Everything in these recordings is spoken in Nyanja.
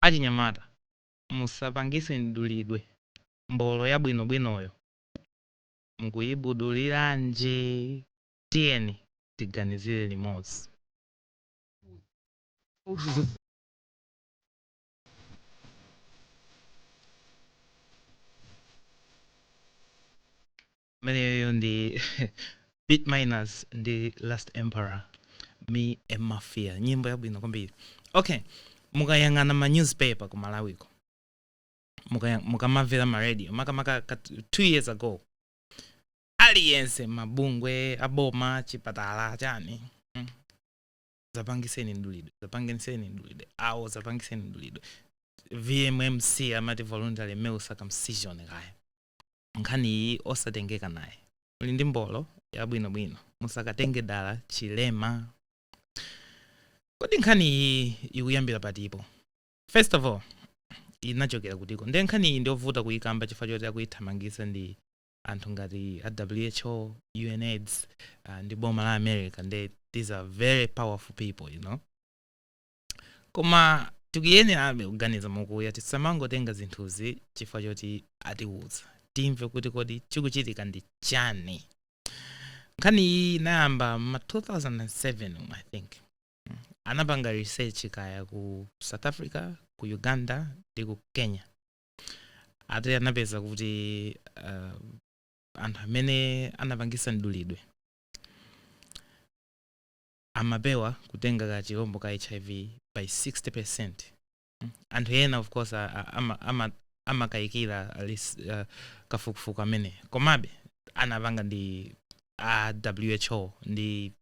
Achinyamata, musapangise mdulidwe, mbolo yabwino bwinoyo mukuyibuduliranji? Tiyeni tiganizire limodzi. ameneyo ndi bit minus ndi last emperor Me and Mafia nyimbo yabwino kwambiri okay mukayang'ana ma newspaper ku Malawiko mukaya- mukamamvera ma radio makamaka ka t- two years ago aliyense mabungwe aboma chipatala chani mm. zapangiseni mdulidwe zapangiseni mdulidwe awo zapangiseni mdulidwe vmmc amati voluntary male circumcision kaya nkhani iyi osatengeka naye muli ndi mbolo yabwinobwino musakatenge dala chilema kodi nkhani iyi ikuyambira patipo first of all inachokera kutiko nde nkhani iyi ndiyovuta kuyikamba chifukwa choti akuyithamangisa ndi anthu ngati a who, unaids ndi boma la America nde these are very powerful people you know koma tikuyenerabe kuganiza mokuya tisamangotenga zinthuzi chifukwa choti atiwuza timve kuti kodi chikuchitika ndi chani nkhani iyi inayamba ma 2007 um, i think mm. anapanga research kaya ku South Africa ku Uganda ndi ku Kenya ati anapeza kuti uh, anthu amene anapangisa mdulidwe amapewa kutenga ka chilombo ka hiv by 60 percent mm. anthu ena of course amakayikira ama, ama uh, kafukufuku ameneyu komabe anapanga ndi a who ndi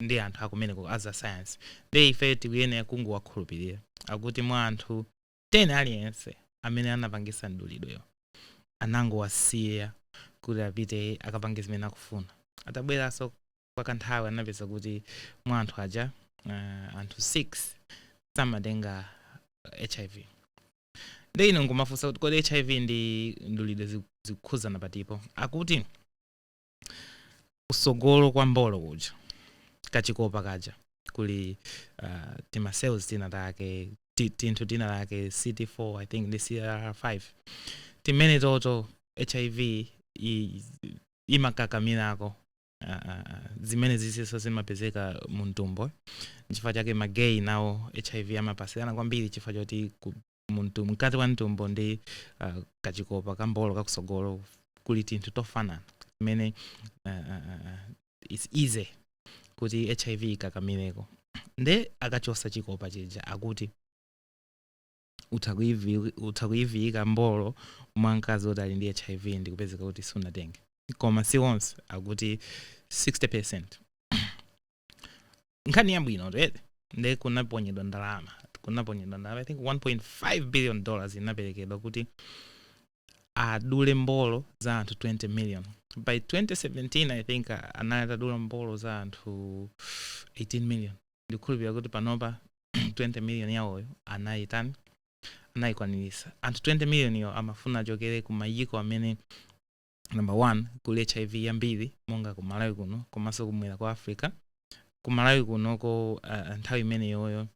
ndi anthu akumeneko a za science nde ife tikuyenera kungowakhulupirira akuti mwa anthu 10 aliyense amene anapangisa mdulidweyo anangowasiya kuti apite akapange zimene akufuna atabweranso kwa kanthawi anapeza kuti mwa anthu aja uh, anthu 6 samatenga hiv nde ine nkumafunsa kuti kodi hiv ndi mdulidwe zi- zikukhuzana patipo akuti kusogolo kwa mbolo kuja kachikopa kaja kuli uh, tima cells tina take tinthu tina take cd4 i think ndi cr5 timene toto hiv imakakamirako uh, ah, ah, ah, zimene zisiso zimapezeka mu mtumbo chifukwa chake magay nawo hiv amapasirana kwambiri chifukwa choti mu mtu- mkati wa mtumbo ndi uh, kachikopa kambolo kakusogolo kuli tinthu tofanana zimene uh, uh, uh, its easy kuti hiv ikakamireko nde akachosa chikopa chija akuti utha kuivi- utha kuyiviyika mbolo mwa mkazi woti ali ndi hiv ndikupezeka kuti sunatenge koma si onse akuti 60 percent nkhani yabwino right nde kunaponyedwa ndalama kunaponyedwa ndalama i think 1.5 billion dollars inaperekedwa kuti adule mbolo za anthu 20 million by 2017 i think a- anali atadula mbolo za anthu 18 million ndikukhulupirira kuti panopa 20 million yawoyo anayitani anayikwanirisa anthu 20 million yo amafuna achokere ku mayiko amene number one kuli hiv yambiri monga ku malawi kuno komanso kumwera kwa africa ku malawi kunoko uh, nthawi imeneyoyo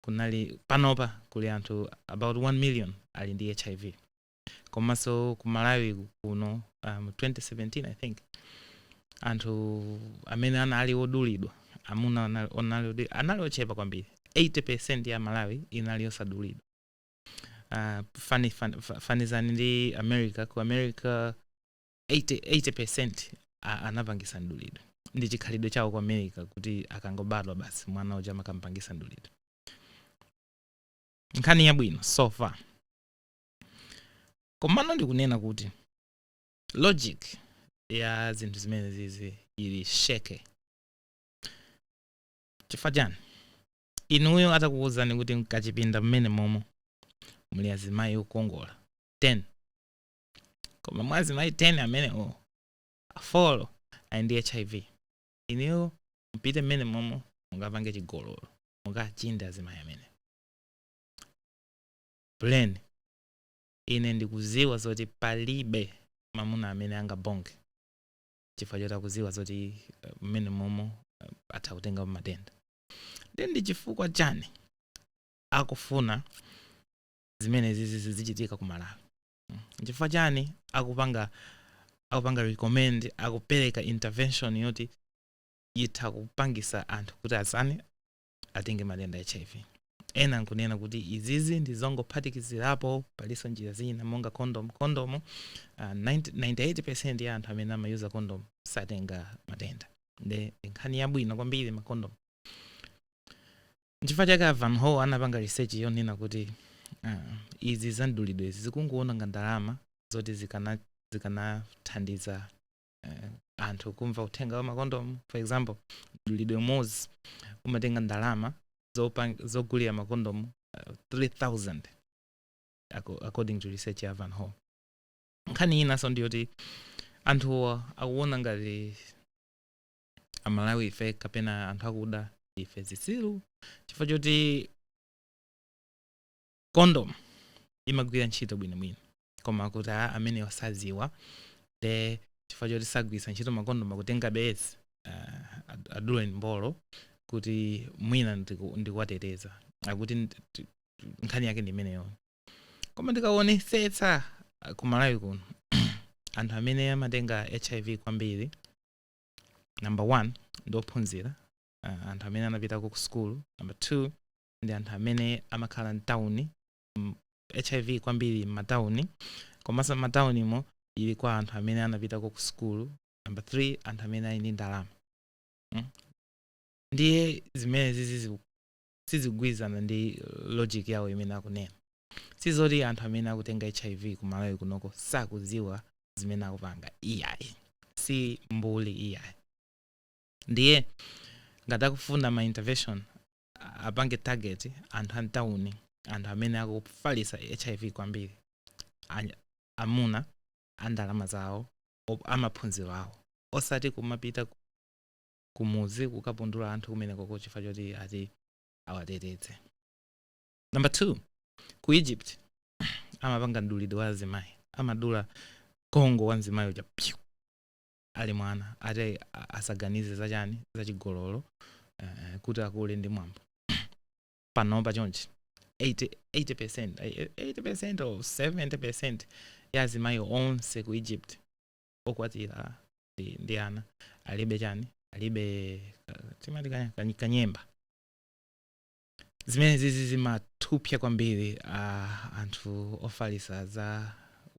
kunali panopa kuli anthu about 1 million ali ndi hiv komanso ku malawi kuno um, 2017 i think anthu amene anali odulidwa amuna anali- anali odi- anali ochepa kwambiri 80 percent ya malawi inali yosadulidwa uh, fani, fan, fa- fanizani ndi america ku america 80, 80 percent a- anapangisa mdulidwe ndi chikhalidwe chawo ku america kuti akangobadwa basi mwana uja amakampangisa mdulidwe nkhani yabwino so far komano ndikunena kuti logic ya zinthu zimene zizi ili sheke chifukwa chani Inuyo atakuuzani kuti mkachipinda mmenemomo muli azimayi okongola 10 koma mwa azimayi 10 amenewo a 4 ali ndi hiv, inuyo mupite mmenemomo mukapange chigololo, mukachinde azimayi amenewo? Plain, ine ndikuziwa zoti palibe mamuna amene angabonke. chifukwa choti akuziwa zoti mmene momo atha kutengapo matenda nde ndi chifukwa chani akufuna zimene zizi zizichitika ku malawi Mm. chifukwa chani akupanga akupanga recommend akupereka intervention yoti itha kupangisa anthu kuti azani atenge matenda a hiv ena nkunena kuti izizi ndi zongophatikizirapo palinso njira zina monga condom condom uh, 90 98 percent ya anthu amene amayuza condom satenga matenda nde ndi nkhani yabwino kwambiri makondom nchifukwa chake a van howe anapanga research yonena kuti uh, izi zamdulidwezi zikungoononga ndalama zoti zikana zikanathandiza eh, anthu kumva uthenga wa makondom for example mdulidwe umodzi umatenga ndalama zogulira makondom uh, 3000 according to research ya van hall nkhani inanso ndiyoti anthu akuona ngati amalawi ife kapena anthu akuda ife zitsiru chifukwa choti kondom imagwira ntchito bwino bwino koma kuti a amene osaziwa dee chifukwa choti sagwiritsa ntchito makondom akutenga bezi uh, aduleni mbolo kuti mwina ndikuwateteza akuti nkhani yake ndi imeneyo koma ndikaonesetsa uh, ku malawi kuno anthu amene amatenga hiv kwambiri number one ndi ophunzira uh, anthu amene anapitako ku sukulu number two ndi anthu amene amakhala mtauni mm, hiv kwambiri m'matauni komanso m'mataunimo ili kwa anthu amene anapitako ku sukulu number 3 anthu amene ali ndi ndalama mm. ndiye zimenezi zizi- sizikugwirizana ndi logic yawo imene akunena sizoti anthu amene akutenga hiv ku malawi kunoko sakudziwa zimene akupanga iyayi si mbuli iyayi ndiye ngati akufuna ma intervention apange target anthu a mtauni anthu amene akufalitsa hiv kwambiri Anya- amuna a ndalama zawo op- amaphunziro awo osati kumapita ku- kumuzi kukapundula anthu kumenekoko chifukwa choti ati awateteze number two ku egypt amapanga mdulidwe wa azimayi amadula kongo wa mzimayi uja ali mwana ati asaganize za chani za chigololo uh, kuti akule ndi mwambo panopa chonchi 80% 80% or 70% ya azimayi onse ku egypt okwatira ndi, ndi ana alibe chani alibe uh, timati kanya- kany- kanyemba zimene zizi zimapsa kwambiri uh, anthu ofalisa za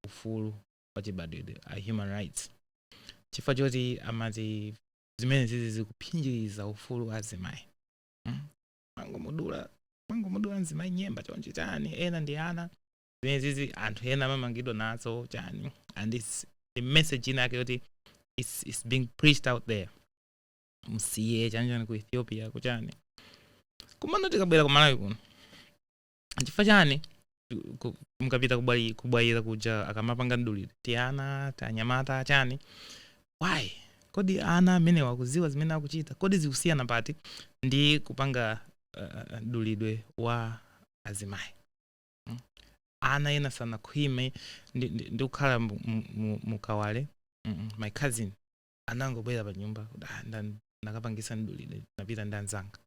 ufulu wachibadwidwe a human rights chifukwa choti amati zimene zizi zikuphinjiriza ufulu wa azimayi hmm? mangomudula mangomudula mzimayi nyemba chonchi chani ena ndi ana zimene zizi anthu ena amamangidwa nazo chani and message inayake yoti it's, it's being preached out there msiye chani chani ku ethiopia kuchani komano tikabwera ku malawi kuno chifukwa chani mukapita kubwayira kuja akamapanga mdulidwe tiana tanyamata chani why kodi ana amenewa akuziwa zimene akuchita kodi zikusiyana pati ndi kupanga mdulidwe wa azimayi hmm? ana ena sanakhwime ndikukhala mukawale my cousin anangobwera pa nyumba nnakapangisa mdulidwe napita ndi anzanga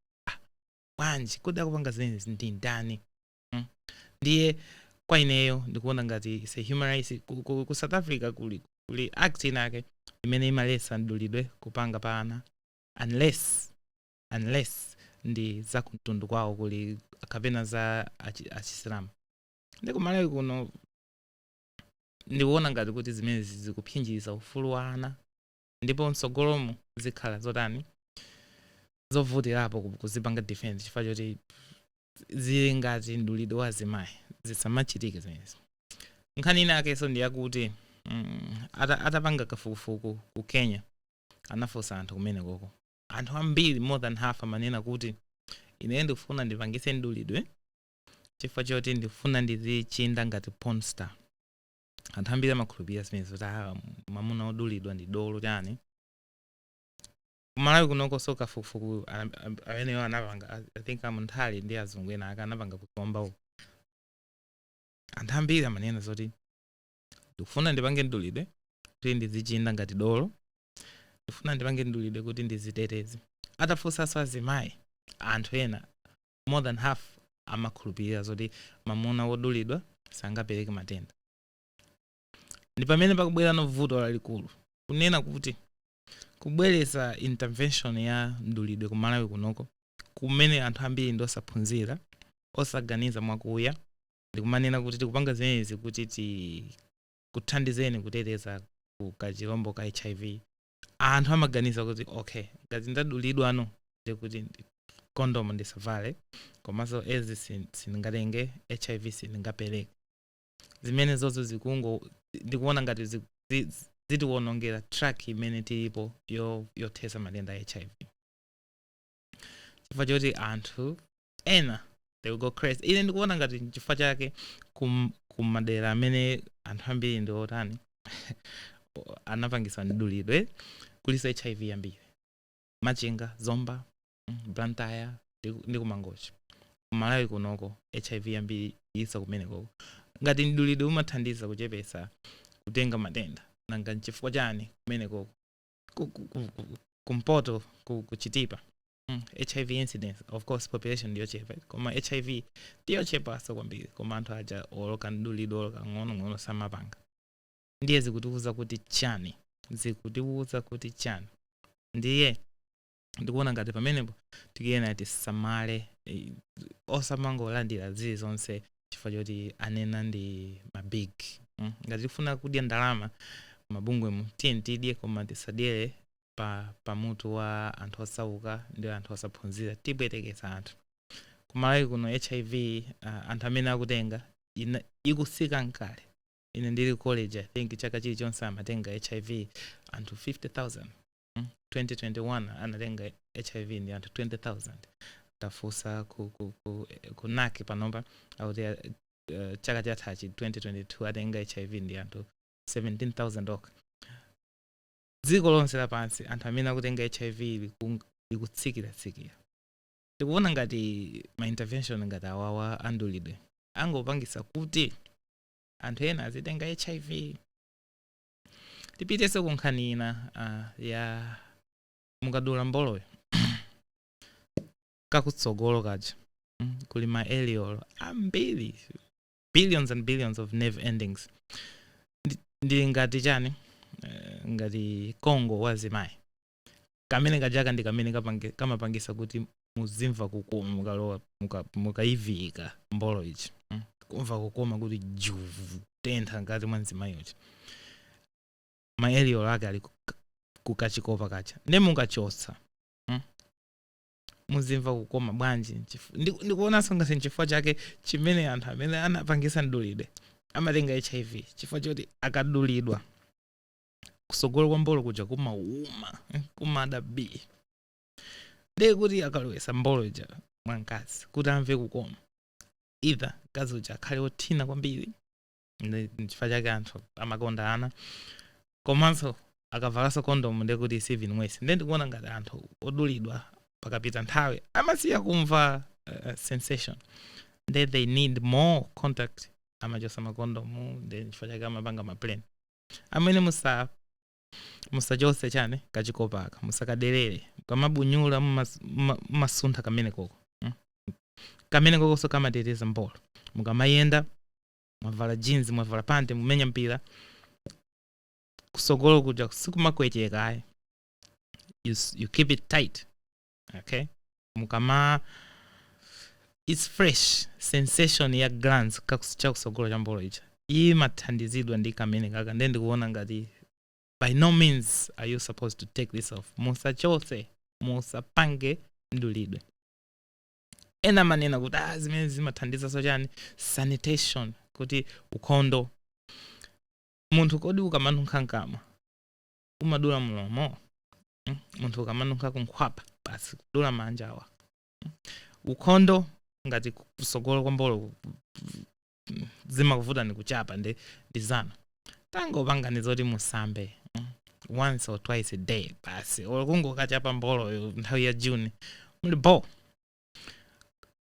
bwanji kodi akupanga zimenezi ndi ndani mm. ndiye kwa ineyo ndikuona ngati it's a human rights ku, ku, ku south africa kuli, kuli act inake imene imaletsa mdulidwe kupanga pa ana unless unless ndi za kumtundu kwawo kuli kapena za achi- achisilamu ndi kumalawi kuno ndikuona ngati kuti zimenezi zikuphinjiriza ufulu wa ana ndipo mtsogolomu zikhala zotani zovutirapo kuzipanga defense chifukwa choti zili ngati mdulidwe wa azimayi zisamachitike zimenezi nkhani ina yakenso ndi yakuti mm, ata, atapanga kafukufuku ku kenya anafunsa anthu kumene koko anthu ambiri more than half amanena kuti ine ndikufuna ndipangise mdulidwe chifukwa choti ndikufuna ndizichinda ngati pornstar anthu ambiri amakhulupirira zimenezo kuti ah, mamuna odulidwa ndi dolo chani kumalawi kunokoso kafukufuku ameneyo anapanga i think amunthali ndi azungu ena ake anapanga kuzomba uko anthu ambiri amanena zoti ndikufuna ndipange mdulidwe kuti ndizichinda ngati dolo ndifuna ndipange mdulidwe kuti ndiziteteze atafunsanso azimayi anthu ena more than half amakhulupirira zoti mamuna wodulidwa sangapereke matenda ndi pamene pakubwerano vuto lalikulu kunena kuti kubweresa intervention ya mdulidwe ku malawi kunoko kumene anthu ambiri ndi osaphunzira osaganiza mwakuya ndikumanena kuti tikupanga zimenezi kuti tikuthandizeni kuteteza ku kachirombo ka hiv anthu amaganiza kuti okay ngati ndadulidwano ndi kuti ndi- condom ndisavale komanso ezi sin- sindingatenge hiv sindingapereke zimenezozo zikungo ndikuona ngati zi- zi- zitiwonongera track imene tilipo yo- yothesa matenda a hiv chifukwa choti anthu ena they will go crazy ine ndikuona ngati nchifukwa chake kum- kumadera amene anthu ambiri ndi otani anapangisa mdulidwe kuliso hiv yambiri machinga zomba mm, blantyre ndi- ndi kumangochi kumalawi kunoko hiv yambiri iliso kumenekoko ngati mdulidwe umathandiza kuchepesa kutenga matenda nanga nchifukwa chani kumenekoko Ku- ku- ku- ku- kumpoto ku- kuchitipa Mm, hiv incidence of course population ndiyochepa koma hiv ndiyochepanso kwambiri koma anthu aja oloka mdulidwe oloka ng'onong'ono samapanga ndiye zikutiwuza kuti chani zikutiwuza kuti chani ndiye ndikuona ngati pamenepo tikuyenera tisamale eh, osamangolandira zili zonse chifukwa choti anena ndi mabig mm. ngati tikufuna kudya ndalama mabungwemu tiyeni tidye koma tisadyere pa pa mutu wa anthu osauka ndi anthu osaphunzira tipwetekesa anthu kumalawi kuno hiv uh, anthu amene akutenga ina, ikusika kale ine ndili college i think chaka chilichonse amatenga hiv anthu 50000 mm? 2021 anatenga hiv ndi anthu 20000 tafunsa ku, ku, ku, ku nac panopa akuti uh, chaka chathachi 2022 atenga hiv ndi anthu 17000 okha dziko lonse lapansi anthu amene akutenga hiv liku- likutsikiratsikira tikuona ngati ma intervention ngati awawa amdulidwe angopangisa kuti anthu ena azitenga hiv tipitenso ku nkhani ina uh, ya mukadula mboloyo kakutsogolo kaja mm, kuli ma eliolo ambiri billions and billions of nerve endings Ndi- ndili ngati chani Eh, ngati kongo wa azimayi kamene kajaka ndi kamene kapange- kamapangisa kuti muzimva kukoma mukalowa muka- mukayivika mbolo ichi mm. kumva kukoma kuti juvu kutentha mkati mwa mzimayi uchi maeliyolo ake ali kuka- kukachikopa kaja nde mukachotsa mm. muzimva kukoma bwanji Nchif- ndi- ndikuonanso ngati nchifukwa chake chimene anthu amene anapangisa mdulidwe amatenga hiv chifukwa choti akadulidwa kusogolo kwa mbolo kuja kumauma eh, kumada bii ndiye kuti akalowesa mbolo ija mwa mkazi kuti amve kukoma either mkazi uja akhale othina kwambiri Ndi- nchifukwa chake anthu amakonda ana komanso akavalanso kondomu ndiye kuti it's even worse ndiye ndikuona ngati anthu odulidwa pakapita nthawi amasiya kumva uh, sensation ndiye they need more contact amachosa makondomu ndiye nchifukwa chake amapanga ma plan amene musa musachose chani kachikopa aka musakaderere kamabunyula mumas- muma- mumasuntha kamene koko mm? kamene kokonso kamateteza mbolo mukamayenda mwavala jeans mwavala pante mumenya mpira kusogolo kuja sikumakwecheka ayi you, you keep it tight okay mukama its fresh sensation ya glans chakusogolo cha mbolo icha imathandizidwa ndi kamene kaka ndiye ndikuona ngati by no means are you supposed to take this off musachose musapange mdulidwe ena amanena kuti ah, zimene zimathandizanso chani sanitation kuti ukhondo munthu kodi ukamanunkha mkamwa umadula mlomo hmm? munthu ukamanunkha kunkhwapa basi kudula manja awa hmm? ukhondo ngati kusogolo kwa mbolo mm, zimakuvutani kuchapa ndi ndi zanu tangopangani zoti musambe mm, once or twice a day basi or kungokachapa mboloyo nthawi ya june muli bo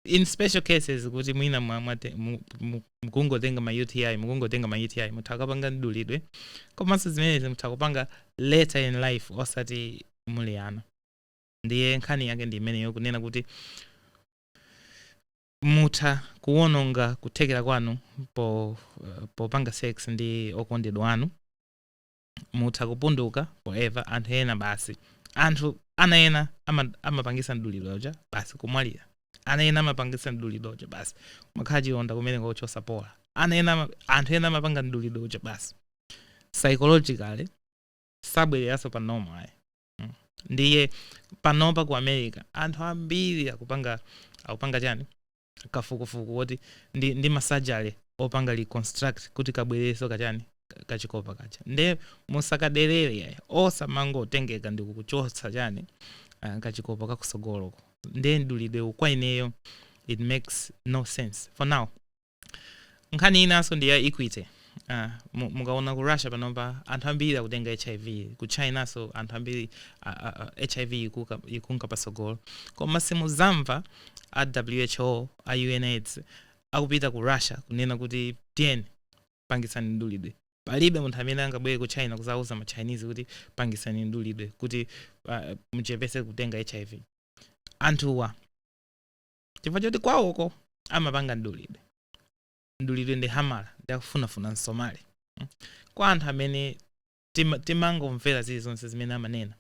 in special cases kuti mwina mwa- mwate- mu- mu- mukungotenga ma uti mukungotenga ma uti mutha kapanga mdulidwe komanso zimenezi mutha kupanga later in life osati muli ana ndiye nkhani yake ndi imeneyo kunena kuti Mutha kuwononga kuthekera kwanu popanga sex ndi okondedwa anu. Mutha kupunduka forever. Anthu ena basi. Anthu ana ena amapangisa mdulidwe uja basi kumwalira. Ana ena amapangisa mdulidwe uja basi kumakhala chilonda kumeneko chosapola. Anthu ena amapanga mdulidwe uja basi psychologically sabwereranso pa normal ayi. Mm. ndiye panopa ku america anthu ambiri akupanga akupanga chani kafukufuku woti ndi, ndi masajale opanga reconstruct kuti kabwereso kachani ka- kachikopa kaja nde musakaderere osamangotengeka ndi kukachotsa chani ah, kachikopa kakusogoloko nde mdulidwe kwa ineyo it makes no sense for now nkhani inanso ndi ya equity Ah, mu- mukaona ku russia panopa anthu ambiri akutenga hiv ku china nso anthu ambiri ah, ah, ah, hiv ikuka- ikunka pasogolo koma simuzamva a who a unaids akupita ku russia kunena kuti tiyeni pangisani mdulidwe palibe munthu amene angabwere ku china kuzauza ma chinese kuti pangisani mdulidwe kuti ah, muchepese kutenga hiv anthuwa chifukwa choti kwawoko amapanga mdulidwe mdulidwe ndi hamala ndi akufunafuna msomali mm. kwa anthu amene tima- timangomvera zilizonse zimene amanena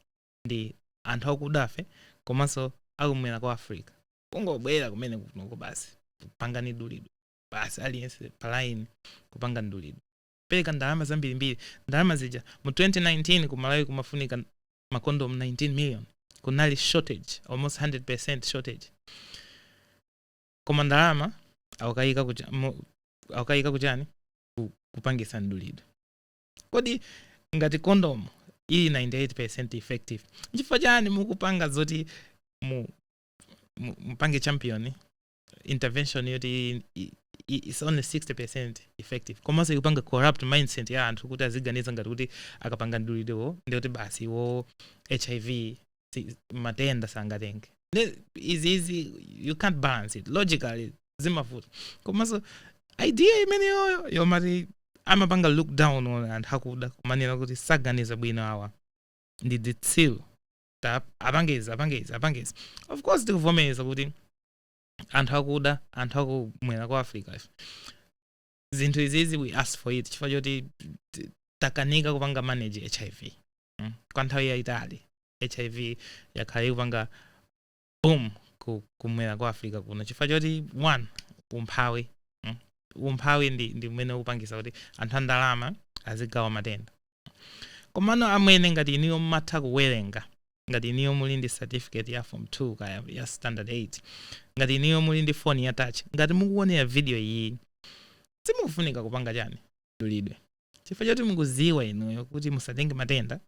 ndi anthu akudafe komanso akumwera kwa africa kungobwera kumene kunoko basi pangani mdulidwe basi aliyense palaini kupanga mdulidwe pereka ndalama zambirimbiri ndalama zija mu 2019 ku malawi kumafunika makondomu 19 million kunali shortage almost 100% shortage koma ndalama akukaika kucha- mu- akukaika kuchani Ku- kupangisa mdulidwe kodi ngati kondomu ili 98% effective nchifukwa chani mukupanga zoti mu, mu, mupange champion intervention yoti i- i- i- it's only 60% effective komanso ikupanga corrupt mindset ya anthu kuti aziganiza ngati kuti akapanga mdulidwewo ndi kuti basi iwo hiv si- matenda sangatenge Ne- izi izi you can't balance it logically zimavuta komanso idea imeneyoyo yomati amapanga look down on anthu akuda kumanena kuti saganiza bwino awa ndi dzitsiru tap apange izi apange izi apange izi of course tikuvomereza kuti anthu akuda anthu akumwera kwa africa ife zinthu izizi we ask for it chifukwa choti t- takanika kupanga manage hiv mm? kwa nthawi yayitali hiv yakhala ikupanga boom ku, kumwera kwa africa kuno chifukwa choti one umphawi mm. umphawi ndi, ndi umene ukupangisa kuti anthu andalama azigawa matenda komano amwene ngati iniyo mmatha kuwerenga ngati iniyo muli ndi certificate ya form 2 kaya ya standard 8 ngati iniyo muli ndi foni ya touch ngati mukuonera video iyi simukufunika kupanga chani mdulidwe chifukwa choti mukuziwa inuyo kuti musatenge matenda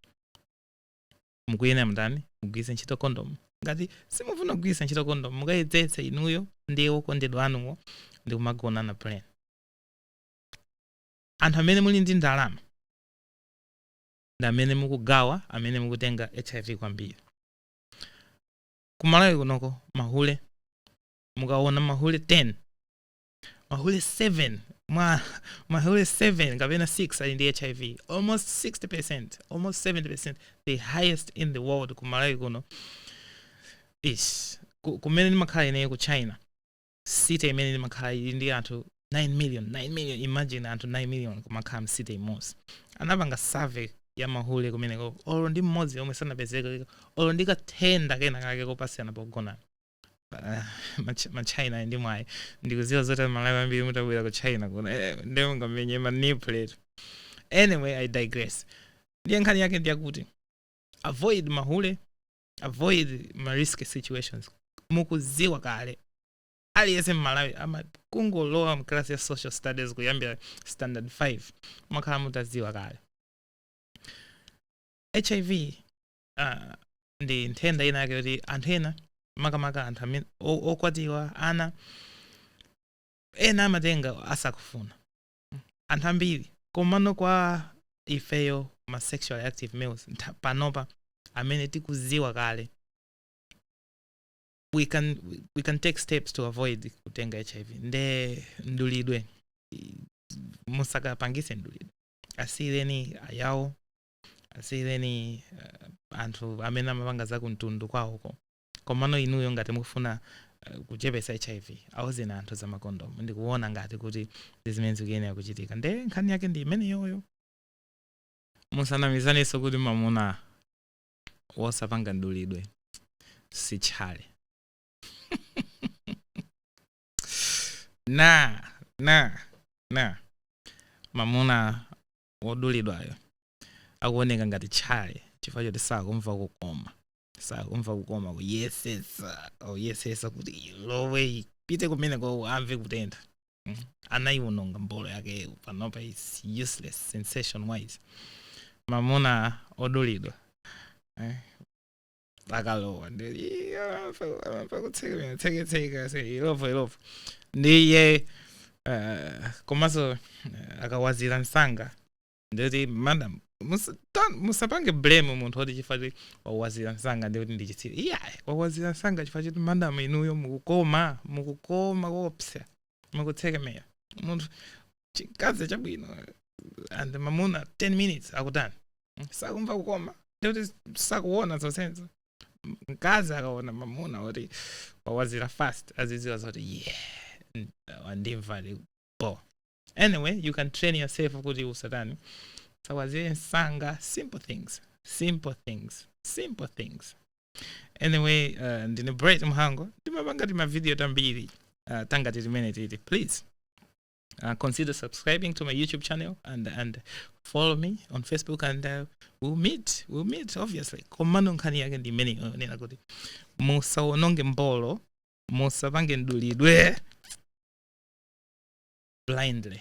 mukuyenera mutani mugwiritse ntchito kondomu ngati simufuna kugwiritsa ntchito kondomu mukayezetse inuyo ndi okondedwa anuwo ndi kumagonana plain anthu amene muli ndi ndalama ndi amene mukugawa amene mukutenga hiv kwambiri kumalawi kunoko mahule mukaona mahule 10 mahule 7 mahule 7 kapena 6 ali ndi hiv almost 60 percent almost 70 percent the highest in the world ku malawi kuno ish ku- kumene ndimakhala ineyo ku china city imene ndimakhala ili ndi anthu 9 million 9 million imagine anthu 9 million kumakhala mcity imodzi anapanga survey ya mahule kumeneko olo ndi mmodzi omwe sanapezeka olo ndi kathenda kena kake kopatsirana pogonana Mach- machina ndi mwayi ndikuziwa zoti amalawi ambiri mutabwera ku china kuno eh, ndiye mungamenye manipulate anyway i digress ndiye nkhani yake ndiyakuti avoid mahule avoid ma risky situations mukuziwa kale aliyense mmalawi amangolowa mklasi ya social studies kuyambira standard 5 mwakhala mutaziwa kale hiv hiv ndi nthenda ina yake yoti anthu ena makamaka anthu amene o- okwatiwa ana ena amatenga asakufuna anthu ambiri komano kwa ifeyo ma sexually active males ntha- panopa amene tikuziwa kale we can, we can take steps to avoid kutenga hiv nde mdulidwe i- musakapangise mdulidwe asiyireni ayawo asiyireni anthu amene amapanga za kumtundu kwawoko komano inuyo ngati mukufuna uh, kuchepesa hiv auzeni anthu za makondomu ndikuona ngati kuti ndi zimene zikuyenera kuchitika nde nkhani yake ndi imeneyoyo musanamizanenso kuti mamuna wosapanga mdulidwe si tchale na na na mamuna wodulidwayo akuoneka ngati tchale chifukwa choti sakumva kukoma sakumva kukoma kuyesesa uyesesa kuti ilowe ipite kumeneko amve kutentha Mm. anaiwononga mbolo yake panopa is useless sensation wise mamuna odulidwa eh, akalowa ndi akutsekemera tseketseka ilovo ilovo ndiye eh, komanso eh, akawazira msanga ndikuti madam musa- ta- musapange blame munthu oti chifukwa choti wawazira msanga ndikuti ndi chitsiru iyayi wawazira msanga chifukwa choti madam inuyo mukukoma mukukoma kopsa mukutsekemera munthu chimkazi chabwino and mamuna 10 minutes akutani sakumva kukoma ndikuti sakuona zonsezo mkazi akaona mamuna kuti wawazira fast aziziwa zoti yeah n- wandimva li bo anyway you can train yourself kuti usatani usawazire msanga simple things simple things simple things anyway uh, ndine bright mhango ndimapanga timavidiyo tambiri uh, tangati timene titi please uh, consider subscribing to my youtube channel and, and follow me on facebook and uh, we'll meet we'll meet obviously komano nkhani yake ndi imeneyo yonena kuti musawononge mbolo musapange mdulidwe blindly